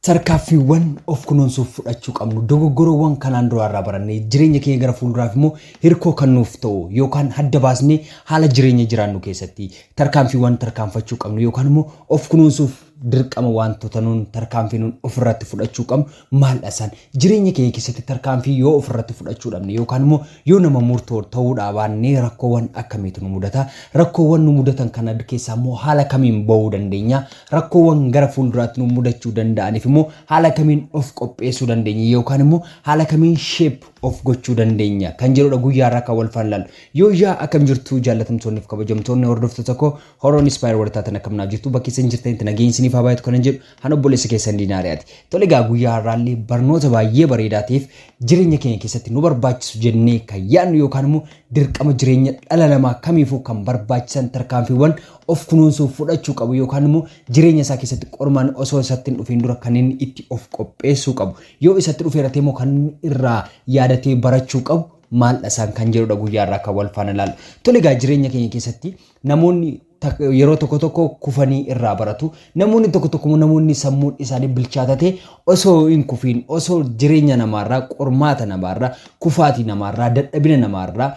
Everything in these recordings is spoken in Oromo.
Tarkaaffiiwwan of kunuunsuuf fudhachuu qabnu dogoggorawwan kanaan duraa irraa barannee jireenya keenya gara fuulduraaf immoo hirkoo kan nuuf ta'u yookaan adda baasnee haala jireenya jiraannu keessatti tarkaanfiiwwan tarkaanfachuu qabnu yookaan immoo of kunuunsuuf dirqama waantota nuun tarkaanfii nuun ofirratti fudhachuu qabnu maaldha isaan? Jireenya keenya keessatti tarkaanfii yoo ofirratti fudhachuu dhabne yookaan immoo yoo nama murtoo ta'uu dhaabaanne rakkoowwan akkamiitu nu mudata? Rakkoowwan nu mudatan kana keessaa immoo haala kamiin ba'uu dandeenya? Rakkoowwan gara fuulduraatti nu mudachuu danda'aniif immoo haala kamiin of qopheessuu dandeenya yookaan immoo haala kamiin sheep of gochuu dandeenya kan jedhudha guyyaa irraa kan wal faallallu. Yoo yaa akkam jirtu jaallatamtoonni fi kabajamtoonni hordoftoota koo Horoon Inspire warri taatan akkam naa jirtu bakki isin jirtanitti nageenyi isiniif haa baay'atu kanan jedhu han obboleessa keessan diinaariyaati. Tole egaa guyyaa har'aallee barnoota baay'ee bareedaa ta'eef jireenya keenya keessatti nu barbaachisu jennee kan yaadnu yookaan immoo dirqama jireenya dhala namaa kamiifuu kan barbaachisan tarkaanfiiwwan of kunuunsuuf fudhachuu qabu yookaan immoo jireenya isaa keessatti qormaan osoo isatti hin dhufiin dura kan inni itti of qopheessuu qabu yoo isatti dhufeeratee immoo kan irraa yaadatee barachuu qabu maaldha isaan kan jedhudha guyyaa irraa kan wal faana ilaallu. Tole egaa jireenya keenya keessatti namoonni yeroo tokko tokko kufanii irraa baratu namoonni tokko tokko namoonni sammuun isaanii bilchaatatee osoo hin kufiin osoo jireenya namaarraa qormaata namaarraa kufaatii namaarraa dadhabina namaarraa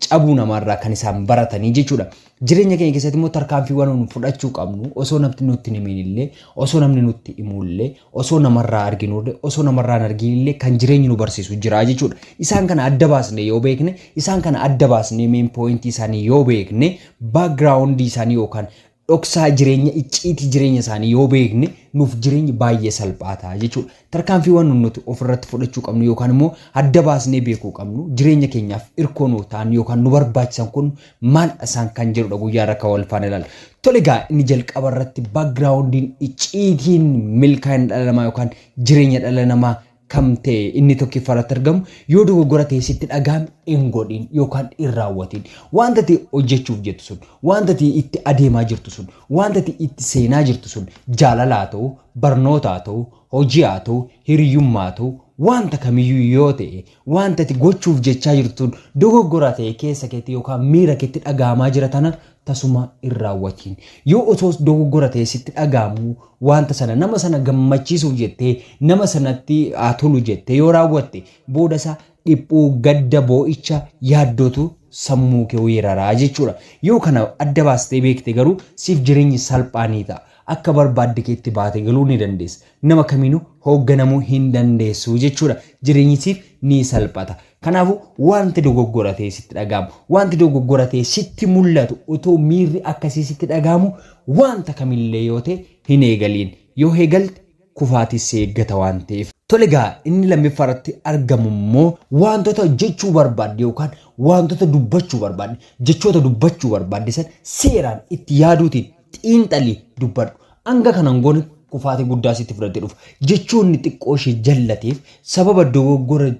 cabuu namaarraa kan isaan baratanii jechuudha. Jireenya keenya keessatti immoo tarkaanfiiwwan nu fudhachuu qabnu osoo namni nutti hin himin illee, osoo namni nutti himu illee, osoo namarraa arginu illee, osoo namarraa hin argin illee kan jireenyi nu barsiisu jira jechuudha. Isaan kana adda baasnee yoo beekne, isaan kana adda baasnee main point isaanii yoo beekne, background isaanii yookaan dhoksaa jireenya icciitii jireenya isaanii yoo beekne nuuf jireenyi baay'ee salphaa ta'a jechuudha. Tarkaanfiiwwan nun nuti of irratti fudhachuu qabnu yookaan immoo adda baasnee beekuu qabnu jireenya keenyaaf irkoo nuuf ta'an yookaan nu barbaachisan kun maaldha isaan kan jedhudha guyyaa irra kan wal faana ilaalla. Tole egaa inni jalqaba irratti backgroundin icciitiin milkaa'ina dhala namaa yookaan jireenya dhala namaa kam ta'e inni tokkiffaa irratti argamu yoo dogoggora ta'e sitti dhaga'ame hin godhin yookaan hin raawwatin. Wanta ta'e hojjechuuf jettu sun wanta ta'e itti adeemaa jirtu sun Waanti ati itti seenaa jirtu sun jaalala haa ta'u, barnoota haa ta'u, hojii haa ta'u, hiriyummaa haa ta'u, waanta kamiyyuu yoo ta'e, waanti ati gochuuf jechaa jirtu sun dogoggora ta'ee keessa keetti yookaan miira keetti dhaga'amaa jira tana tasuma hin raawwatiin. Yoo osoo dogoggora ta'ee sitti dhaga'amu waanta sana nama sana gammachiisuuf jettee nama sanatti haa tolu jettee yoo raawwatte booda isaa dhiphuu, gadda, boo'icha, yaaddootu sammuu kee weerara jechuudha. Yoo kana adda baastee beekte garuu siif jireenyi salphaa ni ta'a. Akka barbaadde keetti baate galuu ni dandeessa. Nama kamiinuu hoogganamuu hin dandeessu jechuudha. Jireenyi siif ni salphata. Kanaafuu wanti dogoggora ta'ee sitti dhaga'amu, wanti dogoggora ta'ee sitti mul'atu otoo miirri akkasii sitti dhaga'amu wanta kamillee yoo ta'e hin eegaliin. Yoo eegalte kufaatiis si eeggata waan ta'eef. Tole egaa inni lammiffaa irratti argamu immoo waantota jechuu barbaadde yookaan waantota dubbachuu barbaadde, jechoota dubbachuu barbaadde san seeraan itti yaaduutiin xiinxalii dubbadhu. Hanga kana hin goone kufaatii guddaa sitti fudhatee dhufa. Jechoonni xiqqoo ishee jallateef sababa dogoggora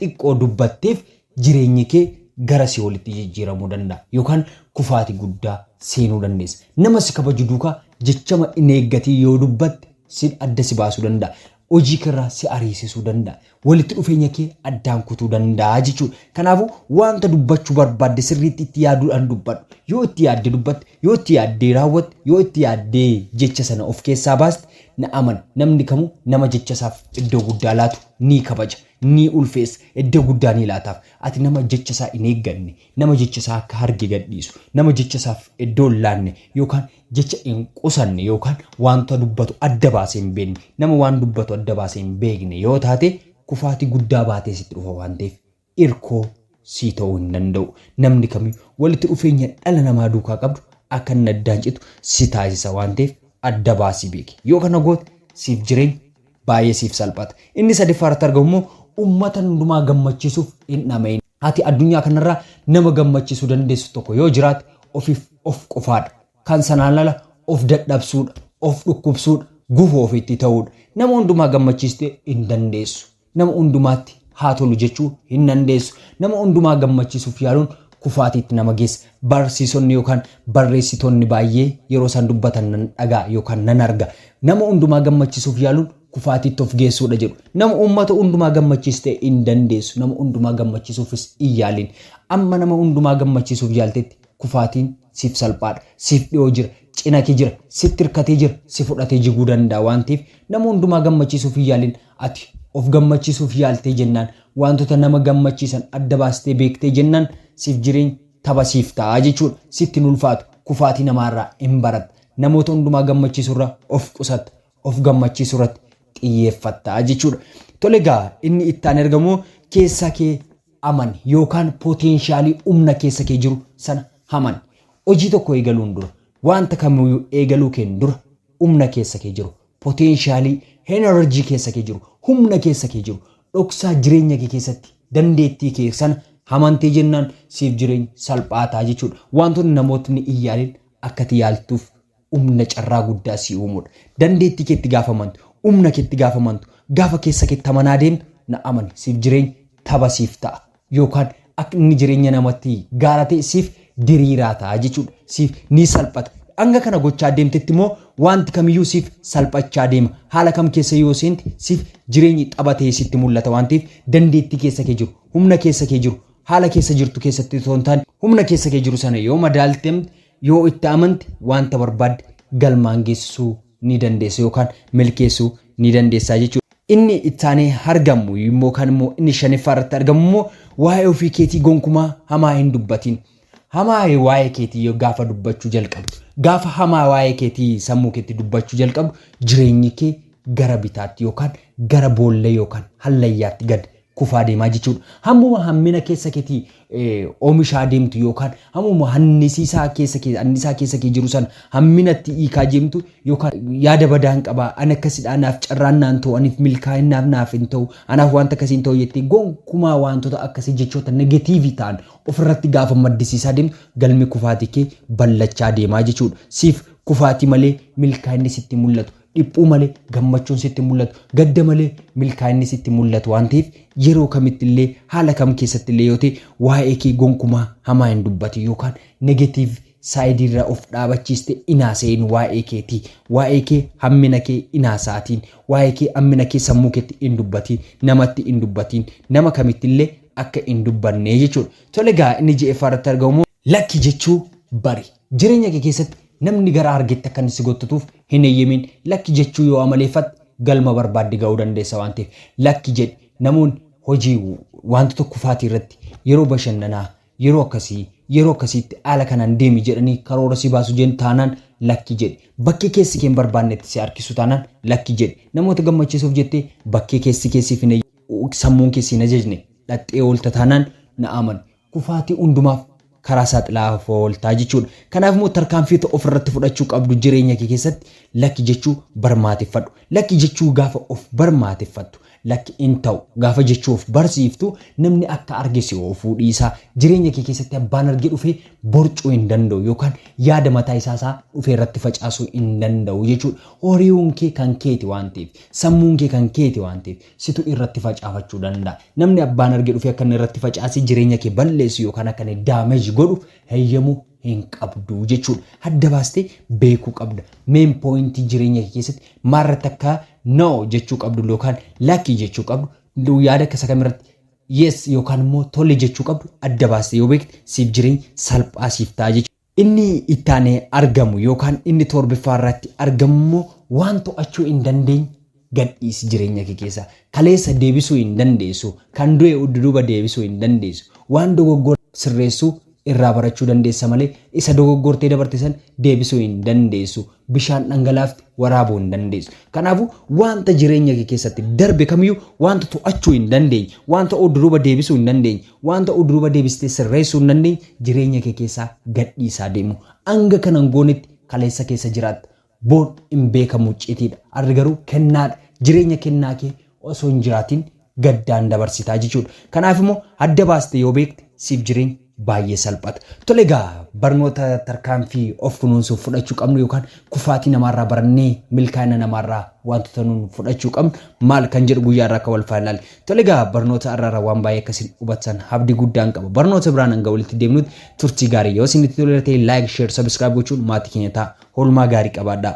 xiqqoo dubbatteef jireenyi kee gara si'oolitti jijjiiramuu danda'a yookaan kufaati guddaa seenuu dandeessa. Nama si kabaju duuka jechama hin eeggatiin yoo dubbatte sin adda si baasuu danda'a. Hojii kee irraa si ariisisuu danda'a. Walitti dhufeenya kee addaan kutuu danda'a jechuudha. Kanaafu waanta dubbachu barbaadde sirriitti itti yaaduudhaan dubbadhu. Yoo itti yaadde dubbatte, yoo itti yaaddee raawwatte, yoo itti yaaddee jecha sana of keessaa baaste na amani namni kamuu nama jecha isaaf iddoo guddaa laatu ni kabaja. Ni ulfeessa, iddoo guddaa ni laataaf. Ati nama jecha isaa hin eegganne, nama jecha isaa akka harge gadhiisu, nama jecha isaaf iddoo hin laanne yookaan jecha hin qusanne yookaan wanta dubbatu adda baasee hin beekne, nama waan dubbatu adda baasee hin beekne yoo taate kufaatii guddaa baatee sitti dhufa waan ta'eef irkoo sii ta'uu hin danda'u. Namni kamiyyuu walitti dhufeenya dhala namaa duukaa qabdu akka inni addaan citu si taasisa waan ta'eef adda baasii beeki. Yoo kana goote siif jireenyi baay'ee siif salphata. Inni sadaffaa irratti argamu immoo uummata hundumaa gammachiisuuf hin dhama'in. Ati addunyaa kana irraa nama gammachiisuu dandeessu tokko yoo jiraate ofiif of qofaa dha. Kan sanaan ala of dadhabsuu dha, of dhukkubsuu dha, gufuu ofitti ta'uu dha. Nama hundumaa gammachiistee hin dandeessu. Nama hundumaatti haa tolu jechuu hin dandeessu. Nama hundumaa gammachiisuuf yaaluun kufaatiitti nama geessa. Barsiisonni yookaan barreessitoonni baay'ee yeroo isaan dubbatan nan dhaga'a yookaan nan arga. Nama hundumaa gammachiisuuf yaaluun kufaatiitti of geessuudha jedhu. Nama uummata hundumaa gammachiistee hin dandeessu. Nama hundumaa gammachiisuufis hin yaaliin. Amma nama hundumaa gammachiisuuf yaaltetti kufaatiin siif salphaadha. Siif dhiyoo jira. Cinake jira. Sitti hirkatee jira. Si fudhatee jiguu danda'a waan ta'eef nama hundumaa gammachiisuuf hin yaaliin. Ati of gammachiisuuf yaaltee jennaan, waantota nama gammachiisan adda baastee beektee jennaan siif jireenyi tapha siif ta'a jechuudha. Sitti hin ulfaatu. Kufaatii namaarraa in baratta. Namoota hundumaa gammachiisurra of qusatta. Of gammachiisurratti xiyyeeffatta jechuudha. Tole egaa inni itti aanee argamuu keessa kee amani yookaan poteenshaalii humna keessa kee jiru sana amani. Hojii tokko eegaluun dura, waanta kamiyyuu eegaluu keen dura humna keessa kee jiru, Potential, energy keessa kee jiru, humna keessa kee jiru, dhoksaa jireenya kee keessatti dandeettii kee sana hamantee jennaan siif jireenyi salphaa ta'a jechuudha. Wantoonni namootni hin yaalin akka ati yaaltuuf humna carraa guddaa sii uumuudha. Dandeettii keetti gaafa amantu, humna keetti gaafa amantu, gaafa keessa keetti amanaa deemtu na amani siif jireenyi tapha siif ta'a. yookaan akka inni jireenya namatti gaara ta'e siif diriiraa ta'a jechuudha. Siif ni salphata. Hanga kana gochaa deemtetti immoo wanti kamiyyuu siif salphachaa deema. Haala kam keessa yoo seente siif jireenyi tapha ta'ee sitti mul'ata waan ta'eef dandeettii keessa kee jiru, humna keessa kee jiru, haala keessa jirtu keessatti osoo hin taane humna keessa kee jiru sana yoo madaalte, yoo itti amante wanta barbaadde galmaan geessisuu ni dandeessa yookaan milkeessuu ni dandeessaa jechuudha. Inni ittaanee argamu immoo kan immoo inni shaniffaa irratti argamu immoo waa'ee ofii keetii gonkumaa hamaa hin dubbatiin. Hamaa waa'ee keetii yoo gaafa dubbachuu jalqabdu, gaafa hamaa waa'ee keetii sammuu keetti dubbachuu jalqabdu jireenyi kee gara bitaatti yookaan gara boollee yookaan hallayyaatti gad kufaa deemaa jechuudha. Hammuma hammina keessa keetii oomishaa deemtu yookaan hammuma hannisiisaa keessa kee annisaa keessa kee jiru san hamminatti hiikaa deemtu yookaan yaada badaan qaba ani akkasidha anaaf carraan naan ta'u aniif milkaa'innaaf naaf hin ta'u anaaf wanta akkasii hin ta'u jettee gonkumaa wantoota akkasii jechoota negatiivii ta'an ofirratti gaafa maddisiisaa deemtu galmi kufaatii kee ballachaa deemaa jechuudha. Siif kufaatii malee milkaa'inni sitti mul'atu Dhiphuu malee gammachuun sitti hin mul'atu. Gadda malee milkaa'inni sitti hin mul'atu waan ta'eef yeroo kamitti illee haala kam keessatti illee yoo ta'e waa'ee kee gonkumaa hamaa hin dubbatin yookaan negative side irra of dhaabachiiste hin haasa'in waa'ee keetii. Waa'ee kee hammina kee hin haasa'atiin. Waa'ee kee hammina kee sammuu keetti hin dubbatiin. Namatti hin dubbatiin. Nama kamitti illee akka hin dubbanne jechuudha. Tole egaa inni 6ffaa irratti argamu immoo. Lakki jechuu bari. Jireenya kee keessatti namni gara argetti akka inni si gottatuuf hin heyyemiin. Lakki jechuu yoo amaleeffatte galma barbaadde ga'uu dandeessa waan ta'eef lakki jedhi. Namoonni hojii, waantota kufaatii irratti, yeroo bashannanaa, yeroo akkasii, yeroo akkasiitti haala kanaan deemi jedhanii karoora si baasu jen taanaan lakki jedhi. Bakkee keessi kee hin barbaannetti si harkisu taanaan lakki jedhi. Namoota gammachiisuuf jettee bakkee keessi kee siif hin, sammuun kee si hin ajajne dhaqxee oolta taanaan na amani. kufaatii hundumaaf karaa saaxilaa of oolta jechuudha. Kanaaf immoo tarkaanfiota of irratti fudhachuu qabdu jireenya kee keessatti lakki jechuu barmaateffadhu. Lakki jechuu gaafa of barmaateffattu, lakki hin ta'u gaafa jechuu of barsiiftu namni akka arge si oofuu dhiisa. Jireenya kee keessatti abbaan arge dhufee borcuu hin danda'u yookaan yaada mataa isaa isaa dhufee irratti facaasuu hin danda'u jechuudha. Horiiwuun kee kan keeti waan ta'eef, sammuun kee kan keeti waan ta'eef, situ irratti facaafachuu danda'a. Namni abbaan arge dhufee akka inni irratti facaasee jireenya kee balleessu yookaan akka inni damage godhu heyyamuu hin qabdu jechuudha. Adda baastee beekuu qabda. Main point jireenya kee keessatti maalirratti akka no jechuu qabdu yookaan lakki jechuu qabdu yaada akka isa kamirratti yes yookaan immoo tole jechuu qabdu adda baastee yoo beekte siif jireenyi salphaa siif ta'a jechuudha. Inni itti aanee argamu yookaan inni toorbiffaa irratti argamu immoo waan to'achuu hin dandeenye gad dhiisi jireenya kee keessaa. Kaleessa deebisuu hin dandeessu, kan du'e udduduuba deebisuu hin dandeessu. Waan dogoggora sirreessu irraa barachuu dandeessa malee isa dogoggortee dabarte san deebisuu hin dandeessu. Bishaan dhangalaafte waraabuu hin dandeessu. Kanaafuu waanta jireenya kee keessatti darbe kamiyyuu waanta to'achuu hin dandeenye, waanta udduduuba deebisuu hin dandeenye, Waan ta'u duuba deebistee sirreessuu hin dandeenye jireenya kee keessa gadhiisaa deemu. Hanga kana hin goonetti kaleessa keessa jiraatta. Boor hin beekamu iccitiidha. Har'i garuu kennaadha. Jireenya kennaa kee osoo hin jiraatiin gaddaan dabarsitaa jechuudha. Kanaaf immoo adda baastee yoo beekte siif jireenyi baay'ee salphata. Tole egaa barnoota tarkaanfii of kunuunsuuf fudhachuu qabnu yookaan kufaatii namaarraa barannee milkaa'ina namaarraa waantota nuun fudhachuu qabnu maal kan jedhu guyyaa irraa akka wal faana ilaali. Tole egaa barnoota har'aarraa waan baay'ee akka isin hubattan abdii guddaan qaba. Barnoota biraan hanga walitti deemnutti turtii gaarii yoo isinitti toleera ta'e like, share, subscribe gochuun maatii keenya ta'a. Oolmaa gaarii qabaadhaa.